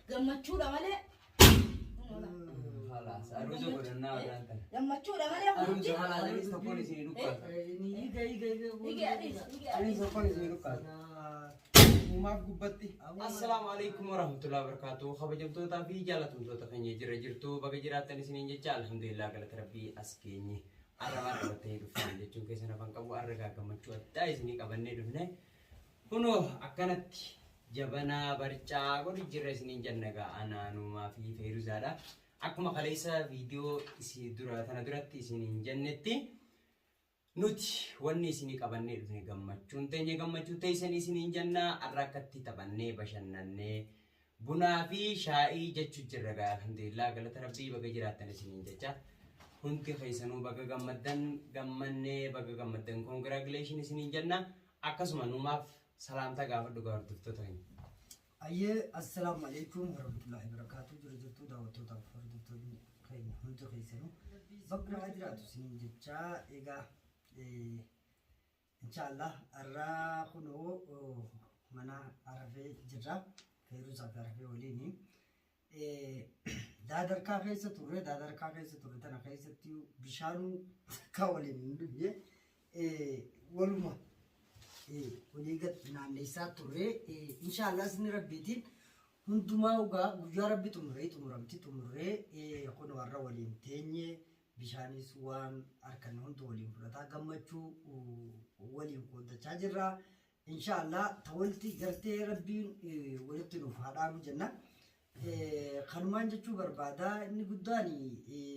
gammachuudha malee gammachuudha malee hundi Uumaaf gubbatti. Assalaamu alaikum warahmatullahi wabarakatuh. Kabajamtootaa fi jaalatamtoota keenya jira jirtu baga jiraattan isiniin jecha alhamdulillah galata rabbii as geenye. Har'a maal qabattanii dhuftan jechuun keessan afaan qabu har'a egaa gammachuu addaa isinii qabannee dhufne. Kunoo akkanatti jabanaa barcaa godhu jirra isiniin jenna egaa anaanumaa fi feeruzaadha. Akkuma kaleessa viidiyoo isin dura tana duratti isiniin jennetti nuti wanni isinii qabannee dhufne gammachuun teenya gammachuu teessan isiniin jenna har'a akkatti taphannee bashannannee Bunaa fi shaa'ii jechu jirra gaa alhamdulillah galata rabbii baga jiraattan isiniin jecha hundi keessanuu baga gammaddan gammannee baga gammaddan congratulations isiniin jenna akkasuma numaaf salaamtaa gaafadhu gaa hordoftoota keenya. Ayyee assalaamu alaikum warahmatullahi wabarakatuh jira jirtuu daawwattootaaf hordoftoonni keenya hundi keessanuu bakka nagaa jiraatu isiniin jechaa egaa eh, Inshaallah arraa kunoo mana arafee jirra feeruusaa fi arafee waliini. Daadarkaa keessa turre daadarkaa keessa turre tana keessatti bishaanuu takkaa waliin hin dhufne waluma walii gad naanneessaa turre inshaallah isin rabbiitiin hundumaa ugaa guyyaa rabbi xumuree xumuramti xumurree kunoo arra waliin teenye Bishaanis waan arkanne hundu waliin fudhataa gammachuu waliin qooddachaa jirra. Inshaa Allah ta walitti gartee rabbiin walitti nuuf haa dhaabu jenna. Kanumaan jechuu barbaada inni guddaan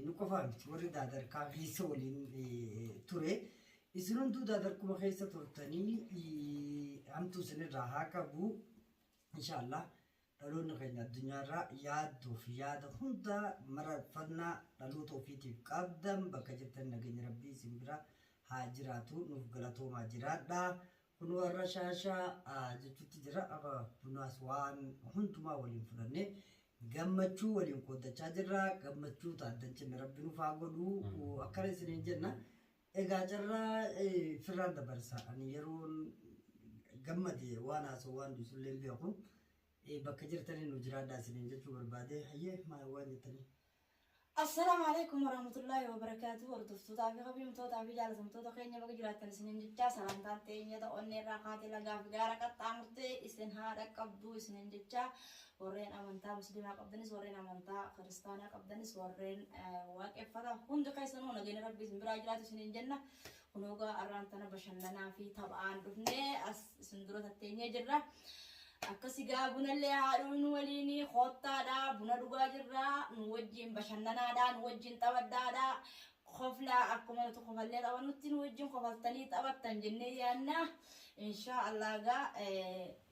nu qofaa miti warri daadarkaa keessa waliin ture. Isin hunduu daadarkuma keessa turtanii hamtuu isinirraa haa qabu. Inshaa Allah Dhaloonni keenya addunyaarraa yaaddoo fi yaada hunda mararfannaa dhaloota ofiitiif qabdan bakka jirtan nageenyi rabbii isin bira haa jiraatu nuuf galatoomaa jiraadha kunoo har'a shaashaa jechuutti jirra akka bunaas waan hundumaa waliin fudhannee gammachuu waliin qooddachaa jirra gammachuu taaddancinne rabbi nuuf haa godhu akkana isiniin jenna Egaa carraa firraan dabarsa. Ani yeroon gammade waan haasa'u waan duusullee hin beeku. Bakka jirtanii nu jiraadhaa isiniin jechuu barbaade. Hayyee maal waan jettanii? Assalaamu alaikum warahmatullaahi wabarakaatu hordoftootaa fi kabajamtootaa fi jaalatamtoota keenya baga jiraattan isiniin jechaa salaantaan teenyata onneerraa kaatee lagaa fi gaara qaxxaamurtee isin haa dhaqqabdu isiniin jechaa Warreen amantaa muslimaa qabdanis warreen amantaa kiristaanaa qabdanis warreen waaqeffata hundi keessanuu nageenya rabbii isin biraa jiraatu isiniin jenna kunoo gaa arraan tana bashannanaa fi taphaan dhufnee as isin dura tatteenyee jirra akkasi gaa bunallee haadhuun nu waliin koottaadha buna dhugaa jirra nu wajjin bashannanaadha nu wajjin taphadhaadha koflaa akkuma nuti kofallee taphannutti nu wajjin kofaltanii taphattan jennee yaanna inshaa allah gaa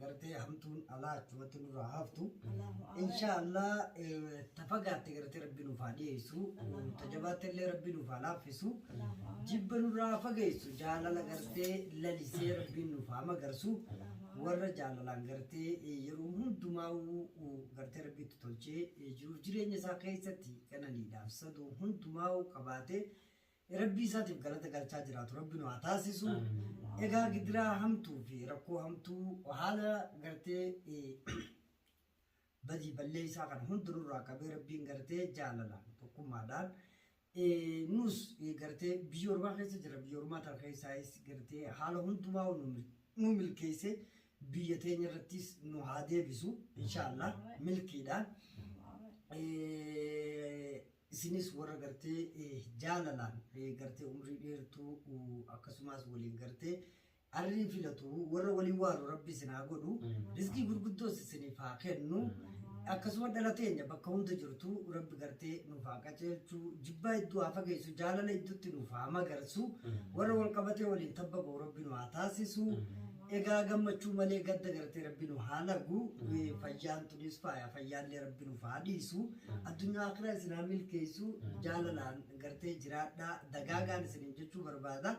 gartee hamtuun alaa achumatti nurraa haftu inshaallah ta fagaatte gartee rabbi nuuf haa dhiyeessu ta jabaatte illee rabbi nuuf haa laaffisu jibba nurraa haa fageessu jaalala gartee lalisee rabbiin nuuf haa magarsu warra jaalalaan gartee yeroo hundumaa gartee rabbiitti tolchee jiruuf jireenya isaa keessatti qananiidhaaf saduu hundumaa qabaatee Rabbii isaatiif galata galchaa jiraatu rabbi nu haa taasisu. Egaa gidiraa hamtuu fi rakkoo hamtuu haala gartee badii ballee isaa kana hunda nurraa qabee rabbiin gartee jaalalaan tokkummaadhaan nus gartee biyya ormaa keessa jira biyya ormaa tan keessaayis gartee haala hundumaa nu milkeessee biyya teenya irrattis nu haa deebisu inshaallah milkiidhaan. Isinis warra gartee jaalalaan gartee umrii dheertuu akkasumaas waliin gartee arrii filatu warra waliin waaru rabbi isin haa godhu rizqii gurguddoos isiniif haa kennu akkasuma dhala teenya bakka hunda jirtu rabbi gartee nuuf haa qaceelchu jibbaa iddoo haa fageessu jaalala iddootti nuuf haa magarsu warra wal qabatee waliin tabba ba'u rabbi nu haa taasisu Egaa gammachuu malee gadda gartee rabbi nu haa lagu Eh, fayyaan tunis faaya fayyaallee rabbi nuuf haa dhiisu addunyaa akhiraa isin haa milkeessu jaalalaan gartee jiraadhaa dagaagaan isiniin jechuu barbaada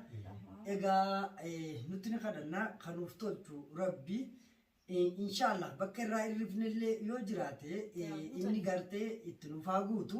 egaa eh, nutti ni kadhannaa kan nuuf tolchu rabbi Eh, inshaallah bakka irraa irrifnellee yoo jiraate eh, inni gartee itti nuuf haa guutu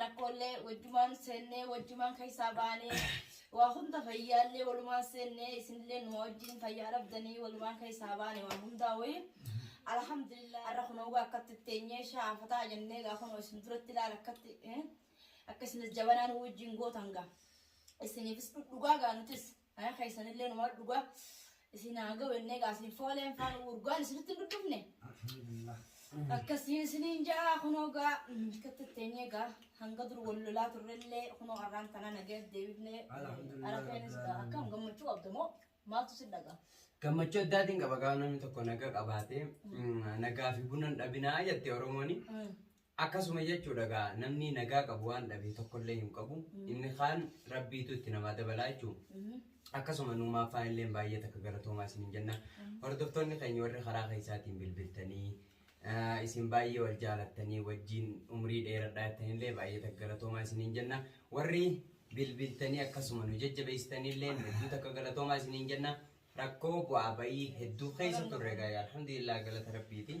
rakkoollee wajjumaan seennee wajjumaan keessaa baanee waa hunda fayyaallee walumaan seennee isinillee nu wajjin fayyaa dhabdanii walumaan keessaa baane waa hundaa wayii. Alhamdulillah har'a kun hawwa akkatti teenyee shaafataa jennee gaafa nu isin duratti ilaala akkatti akkasumas jabanaan wajjin gootan gaa isiniifis dhugaa gaa nutis Faya keessanillee numaa dhugaa isin haa ga'u ennee gaa isin fooleen faan urgaan isinitti hin dhudhufne. Akkasii isiniin ja'a kunoo gaa bikkatti teenyee gaa hanga dur wal lolaa turrellee kunoo har'aan tanaa nagee deebifnee arafeenis gaa akkam gammachuu qabda moo maaltu si dhagaa. Gammachuu addaatiin qaba gaafa namni tokko naga qabaate nagaa fi buna hin dhabinaa jette Oromooni. Akkasuma jechuudha gaa namni nagaa qabu waan dhabe tokkollee hin qabu inni kaan rabbiitu itti namaa dabalaa jechuun akkasuma nuumaa faanilleen baay'ee takka galatoomaa isiniin jenna hordoftoonni keenya warri karaa keessaatiin bilbiltanii eh, isin baay'ee wal jaalattanii wajjin umrii dheeradhaa jettanillee baay'ee takka galatoomaa isiniin jenna warri bilbiltanii akkasuma nu jajjabeessitanillee hedduu takka galatoomaa isiniin jenna rakkoo bu'aa ba'ii hedduu keessa turre gaa alhamdulillah galata rabbiiti.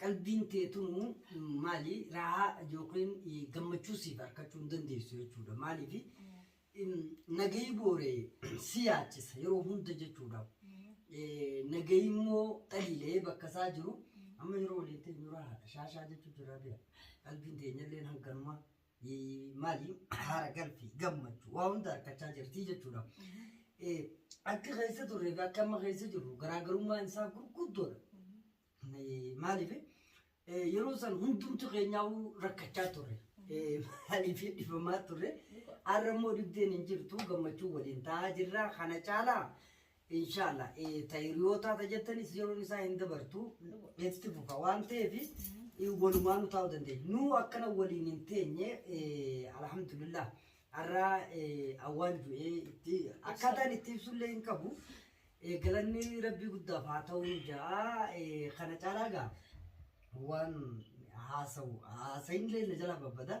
Qalbiin tee tunu maali raahaa yookiin gammachuu siif arkachuu hin dandeessu jechuudha. Maaliif nagayi boore si yaachisa yeroo hunda jechuudha. Nagayi immoo xaliilee bakka isaa jiru amma yeroo waliin teenyu raahaadha. Shaashaa jechuu jirraa beeka. Qalbiin teenyalleen hanganuma. maali haara galfii gammachuu waa hunda argachaa jirti jechuudha. Akka keessa turre fi akka amma keessa jirru garaagarummaan isaa gurguddoodha. Maaliif yeroo san hundumti keenyaa rakkachaa turre. Maaliif dhifamaa turre. Har'a immoo dhibdeen hin jirtu gammachuu waliin ta'aa jirra. Kana caalaa Inshallah tayyoo taata jettanis yeroon isaa hin dabartu itti fufa waan ta'eefis walumaan utaa'uu dandeenya. Nuu akkana waliin hin teenye alhamdulillah har'aa awwaan du'ee itti akkaataan itti ibsullee hin qabu. Galanni rabbii guddaaf haa ta'u ja'a kana caalaa gaa waan haasawu haasayinillee na jala babbada.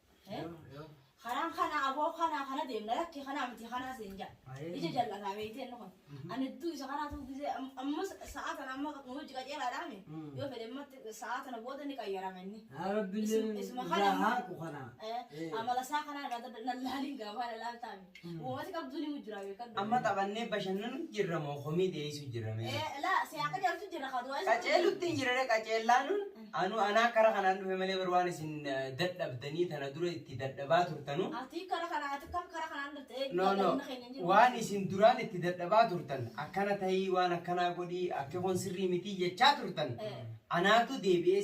Karaan kana aboo kana kana deemna lakki kanaa miti kanaa siin jaa. Ija jal'ataa beektee inni kun. Ani iddoo isa kanaa ta'uu gisee ammas sa'aa tana amma hojii qajeelaadhaa mi? Yoo fedhe ammatti sa'aa tana booda ni qayyarama inni. Rabbiin Isuma- isuma kana- irraa haaqu kana. Eh, Amala isaa kanaa irraa dadda- na laaliin gaafaa na laaltaa mi? Uumati qabdu ni mujjira beekadhu. Amma taphannee bashannanu jirra moo komii dhiyeessu jirra mee? Eh, la si akka jaltu jirra ka du'a. Qaceellutti hin jirre qaceellaanuun anu anaa kara kanaan dhufe malee bar waan isin eh, dadhabdanii tana dura itti dadhabaa turtanu. Ati kara kana ati kam kara kanaan dhufte ee No no dadhabina keenya hin jiru. waan isin duraan itti dadhabaa turtan akkana ta'ii waan akkanaa godhii akka kun sirrii mitii jechaa turtan Eh. anaatu deebi'ee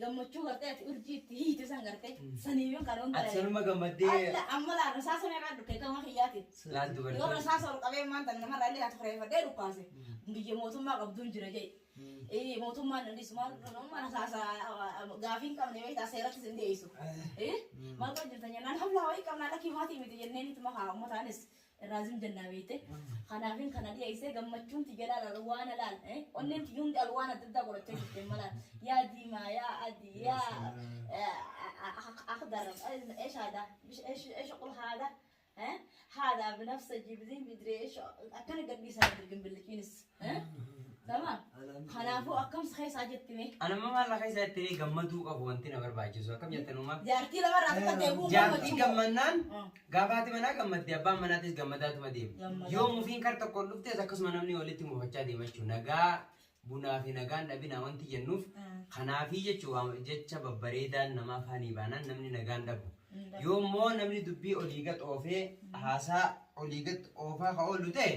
gammachuu gartee ati urjii itti hiite san gartee sanii yoo kan hunda Ati sanuma gammaddee Alla amma laa rasaasa meeqaa dhukkee gama kiyyaati. laal Yoo dubartii. rasaasa ol qabee maanta nama raallee ati kureeffadhee dhukkaase biyya mootummaa qabduun jira jee. Eh, Mootummaan dandis maal nama rasaasa gaafii hin qabne beektaa seeratti sin dhiyeessu. Eh, Maal kan jirtan jennaan hamlaa wayii qabnaa lakkii maatii miti jenneen itti makaa ummataanis irraa zim jennaa beeyte. Kanaafin kana dhiyeessee gammachuun tiyya laal alwaana laal. Onneen tiyya hundi alwaan adda addaa godhachaa jirti amma laal. Yaa diimaa yaa adii yaa akhdar eesh haadaa eesh eesh qul haadaa haadaa binafsa jibziin bidree eesh akkana gadhiisaa jirti gimbilliqiinis. Sama kanaafuu akkamsi keessaa jetti mee. Anamma maal akka isaa itti gammaduu qabu wanti na barbaachisu akkam jettan uumaa. Jaartii lama irraa akka deebi'u Jaartii gammannaan gaafaati manaa gammadde abbaan manaatis gammadaatuma deema. Gammadaa. Yoo mufiin kar tokkoon dhuftes akkasuma namni walitti mufachaa deema jechuudha. Nagaa bunaa fi nagaan dhabinaa wanti jennuuf kanaafii jechuudha jecha babbareedaan nama afaanii baanaan namni nagaan dhabu. Yoo immoo namni dubbii olii gad oofee haasaa olii gad oofaa ka oolu ta'e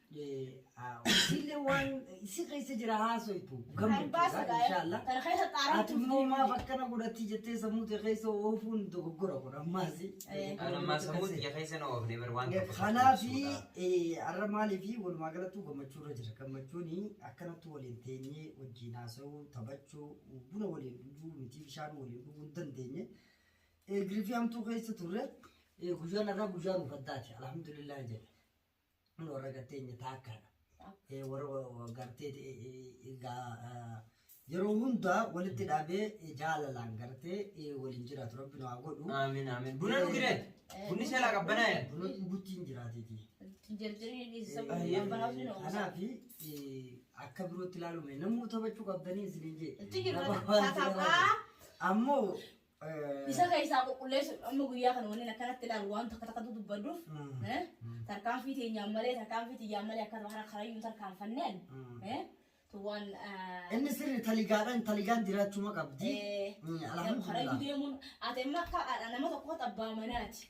Sille waan si keessa jira haasoytu gammachuudha inshaallah. Ati immoo maaf akkana godhatti jettee sammuu ta'e keessa oofuun dogoggora kun ammaasi. Kan ammaa sammuu xiyya keessa na oofne bar waan tokko Kanaaf har'a maaliif walumaa galattuu gammachuu irra jira. Gammachuun akkanatti waliin teenyee wajjin haasa'uu, taphachuu, buna waliin dhuguu miti bishaan waliin dhuguu hin dandeenye. Girifii hamtuu keessa turre. Guyyaan har'aa guyyaa nuuf addaati. Alhamdulillah jedhe. Kun warra garteenya taakkaadha. Eh, Warra wa- gartee eh, eh, egaa eh, yeroo hundaa walitti dhaabee eh, jaalalaan gartee eh, waliin jiraatu rabbi nu haa godhu. Aamin aamin. Buna dhugire. Bunni seelaa qabbanaa'e. Buna dhuguttiin jiraatiti. Jarjarri dhiisisa Eh, banaafni na oomsa. Kanaafi eh, akka birootti ilaalume namuu taphachuu qabdanii isin hin jee. Itti jirra. Taphaa. Ammoo Isa keessaa qulqulleessu amma guyyaa kana waliin akkanatti ilaalu waan takka takka dubbadduuf tarkaanfii teenyaan malee tarkaanfii tiyyaan malee akkana kana karayyuu tarkaanfanneen waan inni sirri taligaadhaan taligaan jiraachuma qabdi. Karayyuu deemuun ati amma akka nama tokko abbaa manaati.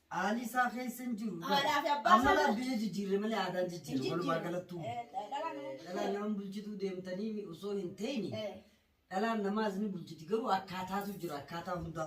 Haalli isaa keessa hin jiru. Haadhaa fi abbaa Amma isaa- laaf biyya jijjiirre malee aadaan jijjiirre walumaa galattuu. Eh, dhalaan nama bulchitu. Dhalaan nama bulchituu deemtanii osoo hin ta'ini Eh. dhalaan namaas ni bulchiti garuu akkaataatu jira akkaataa hundaa.